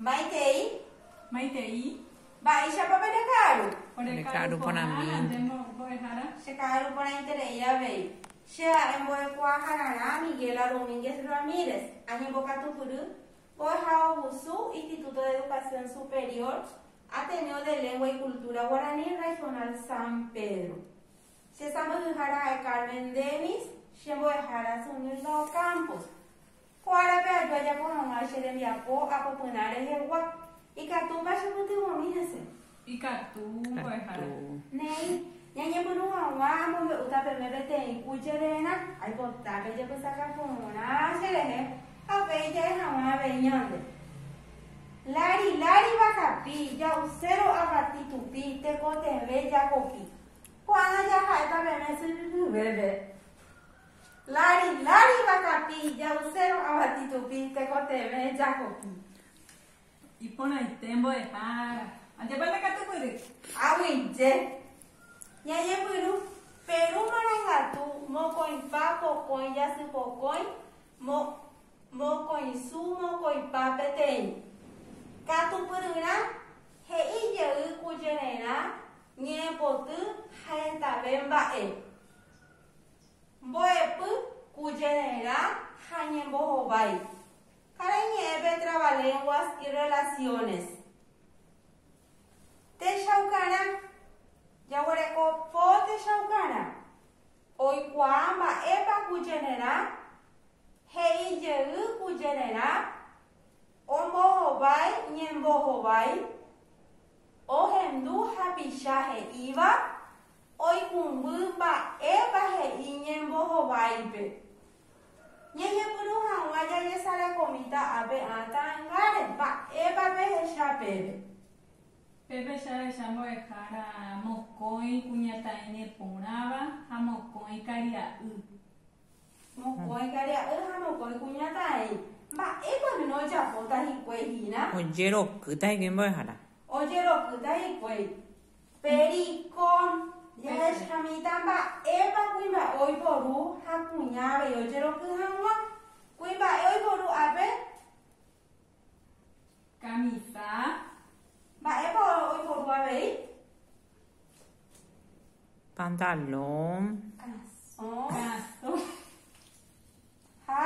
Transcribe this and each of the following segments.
Maitei. Maitei. Mba'éichapa pe reka'aru? Ore ka'aru porã mínte. Che ka'aru porãiterei avei. Che ha'e mbo'ekuaahararã Miguela Domínguez Ramírez. Añembokatupyry mbo'ehaovusu Instituto de Educación Superior Ateneo de Lengua y Cultura Guaraní Regional San Pedro. Che sãmbyhyhára ha'e Carmen Dennis, che mbo'ehára Zunilda Ocampos. Ko árape aju ajapo hag̃ua che rembiapo apopyrã rehegua. Ikatúpa chepytyvõmi hese? Ikatu, mbo'ehára. Néi, ñañepyrũ hag̃ua amombe'úta peve peteĩ ku chere'erã. Aipota pejepysaka porã cherehe ha upéi ja'e hag̃ua avei ñande. Lári, lári vakapi, ja'uséro avati tupi, tekotevẽ jakopi. Ko'ág̃a jaha'éta peẽme sy hyvépe. Lari, lari vakapi, ja'use ro'ava titupi, tekotevẽ jahopi. Iporãite mbo'eha ára. Ajépa ndakatupyry. Ag̃uije. Ñañepyrũ, Perũ marangatu, mokõipa, pokõi, jasy pokõi, mo, mokõisu, mokõipa peteĩ. Katupyryrã, He'i jey kujererã, ñe'ẽpoty ha hetave mba'e. Mbo'epy ku jererã ha ñembohovái. Karai ñe'ẽ pe Trabalenguas y Relaciones. Techaukarã. Jaguereko po techaukarã. Oikuaa mba'épa ku jererã he'i jey ku jererã ombohovái ñembohovái Ohendu hapicha he'íva oikũmby mba'épa he'i ñembohováipe. Ñejepuru hag̃ua jajesarakomíta ápe akã angáre mba'épa pehecha peve. Pépe che ahecha mbo'ehára mokõi kuñataĩne porãva ha mokõi karia'y. Mokõi karia'y ha mokõi kuñataĩ, mba'épa piko ojapóta hikuái hína? Ojerokýta hikuái mbo'ehára. Ojerokýta hikuái. Periko, jahechamíta mba'épa kuimba'e oiporu ha kuña avei ojeroky hag̃ua. Kuimba'e oiporu ápe, Camisa. Mba'épa oiporu avei? Pantalón. Calzón. Calzón. Ha.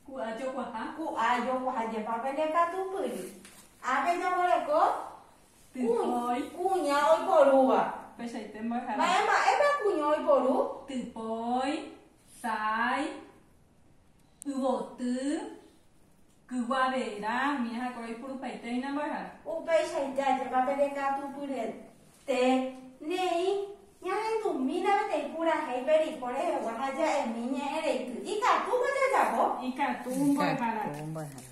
Ku'a jokuaha. Ku'a jokuaha jepa pende katupyry. Ápe jaguereko. Typói. Kuña oiporúva. Pechaite mbo'ehára. Mba'e mba'épa kuña oiporu? Typói. Sái. Yvoty, kyguavera, umi ahakuéra oipurupaite hína mbo'ehára. Upéichaite ajépa pe rekatupyryete neĩ ñahendumína peteĩ purahéi pe riko rehegua ha ja'emi ñe'ẽ reity. Ikatúko jajapo? Ikatu mbo'ehára. Ikatu mbo'ehára.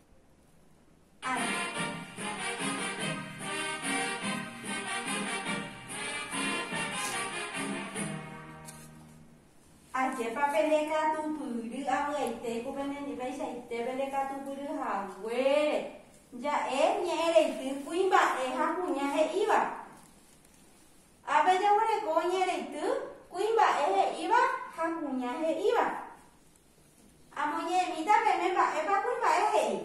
Ajépa pendekatupyry avy'aitéko penendipeichaite pendekatupyry haguére! Ja'e ñe'ẽreity kuimba'e ha kuña he'íva. Ha pejaguereko ñe'ẽreity kuimba'e he'íva ha kuña he'íva. Amoñe'ẽmíta pene mba'épa kuimba'e he'i.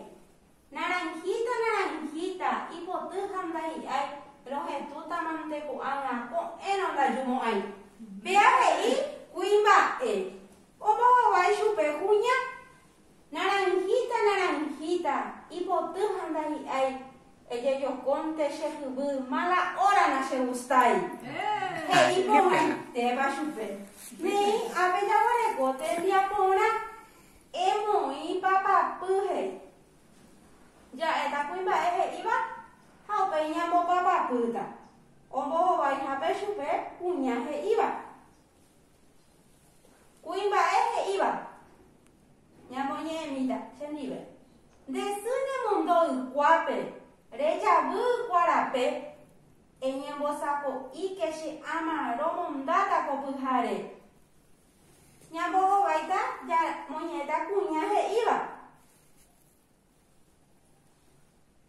Naranjita, naranjita, ipoty ha ndahi'ái, rohetútamante ko'ág̃a ko'ẽrõ ndaju mo'ãi. Péa he'i kuimba'e, ombohovái chupe kuña. Naranjita, naranjita, ipoty ha ndahi'ái, Ejejokónte che jyvy mala óra nachegustái. He'i porãitéva chupe. Néi, ápe jaguareko tembiapo porã. Emoĩ papapy, he'i. Ja'éta kuimba'e he'íva ha upéi ñambopapapýta. Ombohovaihápe chupe kuña he'íva. Kuimba'e he'íva, Ñamoñe'ẽmíta chendive. Nde sy nemondo ykuápe, rejavy ykua rape, eñembosako'íke che áma romondáta ko pyhare. Ñambohováita ñamoñe'ẽta kuña he'íva.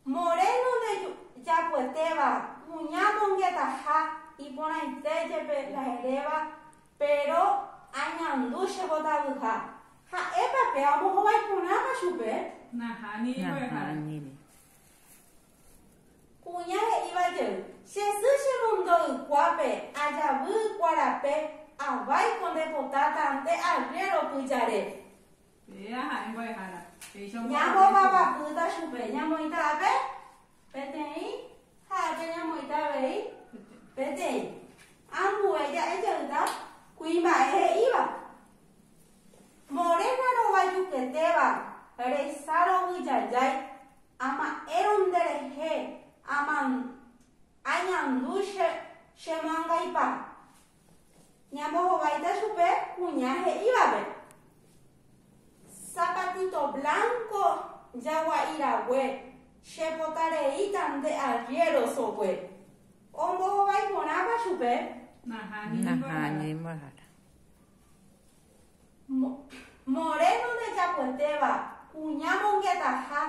Moreno ndejapoetéva kuña mongetaha iporãite jepe la heréva péro añandu che mbotavyha. Ha'épa pe amohovái porãpa chupe? Nahániri. Kuña he'íva jey, Che sy che mundo ykuápe ajavy ykuarape avái ko nde potáta nde arriéro pyjare. Péva ha'e mbo'ehára, péicha ombo'eve chupe. Ñamomavapýta chupe, ñamoĩta ápe, peteĩ, ha ápe ñamoĩta avei, peteĩ. Ambue ja'e jeyta kuimba'e he'íva. Morena rovajuketéva resa rovyjajái ama'ẽrõ nde rehe aman, añandu che, che moangaipa. Ñambohováita chupe kuña he'ívape. Zapatito blanco jagua'irague, chepota reíta nde arriero sogue. Ombohovái porãpa chupe. Nahánimbohára. Moreno ndejapoetéva, kuña mongetaha,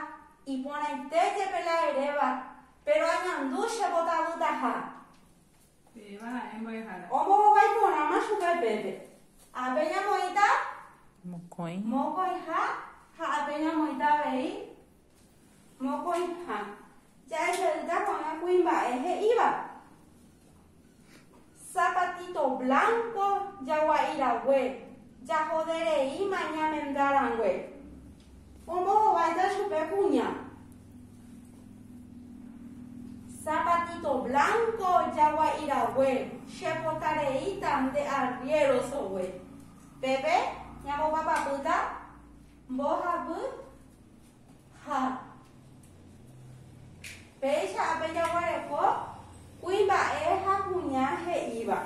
iporãite jepe la eréva, péro añandu che votavytaha. Peẽva ha'e mbo'ehára. Ombohovái porãma chupe upépe. Ápe ñamoĩta. Mokõi. Mokõiha ha ápe ñamoĩta avei. Mokõiha. Jahechauta ko'ág̃a kuimba'e he'íva. Zapatito blanco jagua'irague, jahodereíma ñamenda rangue. Ombohováita chupe kuña. Zapatito blanco jagua'irague che pota reíta nde arriero sogue. Pépe ñambopapapýta mbohapy ha péicha ápe jaguareko kuimba'e ha kuña he'íva.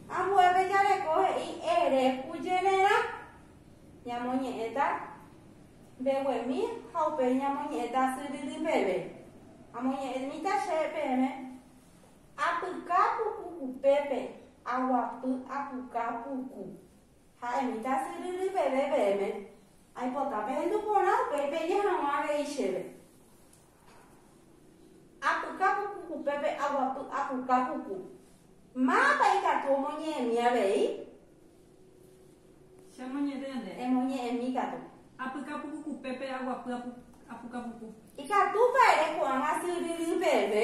Ambuépe jareko he'i ere kujererã. Ñamoñe'ẽta mbeguemi ha upéi ñamoñe'ẽta asyryrỹ peve. Amoñe'ẽmíta che peẽme, Apyka puku upépe, aguapy apuka puku. Ha'emíta asyryrỹ peve peẽme, Aipota pehendu porã upéi peje hag̃ua avei chéve. Apuka puku upépe aguapy apuka puku. Mávapa ikatu omoñe'ẽmi avei? Che amoñe'ẽ nde. Emoñe'ẽmi katu. Apyka puku upépe aguapy apuka puku. Ikatúpa ere ko'ág̃a sy ryry peve?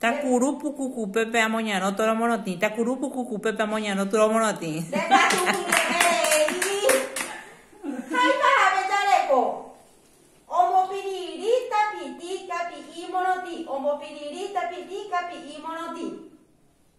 Takuru puku kupépe amoñarõ tóro morotĩ. Takuru puku kupépe amoñarõ tóro morotĩ. Ndekatu ñe'ẽi. Háipa hape jareko. Ombopiriri tapiti kapi'i morotĩ. Ombopiriri tapiti kapi'i morotĩ.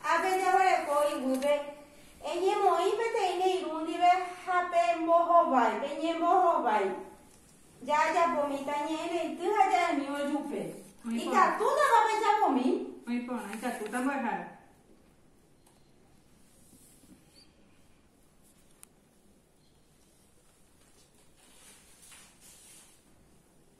Ha pejeguereko iguýpe, eñemoĩ peteĩ ne irũ ndive ha pembohovái, peñembohovái. Jajapomíta ñe'ẽrãity ha ja'emi ojupe. Ikatútapa pejapomi? Oĩ porã, ikatúta mbo'ehára.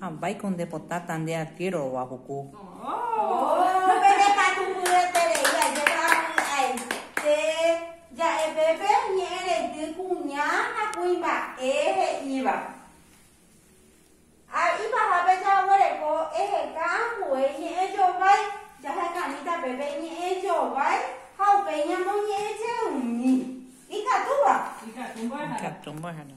Ha vaiko nde potáta nde arquero rova puku. Ohh pene katu mbyterei ajépa aite ja'e pépe ñe'ẽreinty kuña ha kuimba'e he'íva. Ha ipahápe jaguereko eheka ambue iñe'ẽ jovái, jahekañýta pépe iñe'ẽ jovái ha upéi ñamoñe'ẽjeými. Ikatúva? Ikatu mbo'ehára. Ikatu mbo'ehára.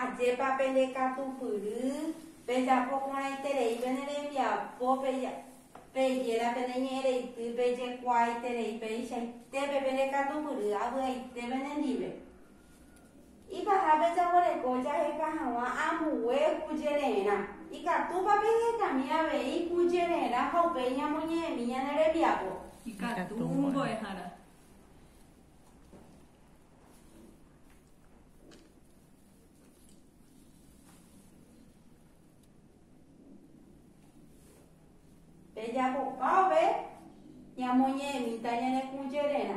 Ajépa pende katupyry, pejapo porãiterei pene rembiapo, peja, pejéra pene ñe'ẽreity, pejekuaaiterei peichaitépe pende katupyry, avy'aite pene ndive. Ipaha pejaguereko jaheka hag̃ua ambue kujererã. Ikatúpa pehekami avei kujererã ha upéi ñamoñe'ẽmi ñane rembiapo? Ikatu mbo'ehára. Pejapopápe ñamoñe'ẽmíta ñane kũjererã.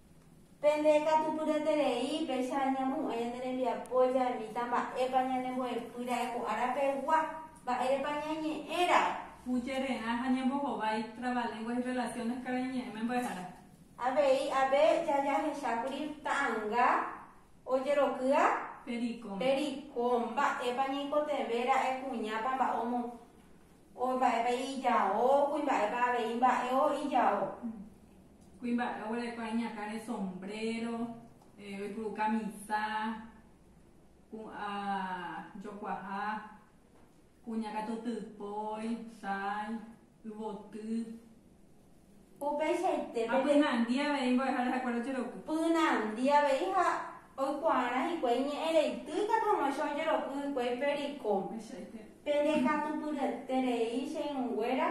Pende katupyreterei, péicha ñamohu'ã ñane rembiapo jaimíta mba'épa ñanembo'epy ra'e ko ára pegua, mba'érepa ñañe'ẽramo. Hucherre'ã ha ñembohovái, Trabalenguas y Relaciones karai ñe'ẽme mbo'ehára. Avei ápe jajahechákuri ta'ãnga ojerokýa. Pericom. Pericom, mba'épa ñaikotevẽ ra'e kuñápa mba'o mo, o mba'épa ijao, kuimba'épa avei mba'e o ijao. Kuimba'e oguerekóva iñakã re sombréro, oipuru kamisa, pu'ã jokuaha, kuña katu typói, sái, yvoty. Upeichaite pende. Ha pynandi avei mbo'ehára ha kuéra ojeroky. Pynandi avei ha oikuaárã hikuái ñe'ẽ reity katu amoicha ojeroky hikuái pericón. Upeichaite. Pende katu pyryete rei che irũnguéra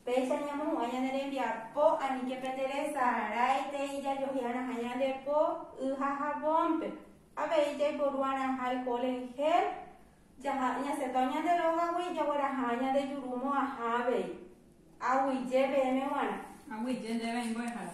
Péicha ñamohu'ã ñane rembiapo, aníke pe teresaráitei jajohe'arãha ñande po y ha javónpe. Avei jaiporu'arãha eho reheve, jaha ñasẽtao ñande rógagui jagueraha ñande juru mo'ãha avei. Aguyje peẽme g̃uarã. Aguyje ndéve aĩ mbo'ehára.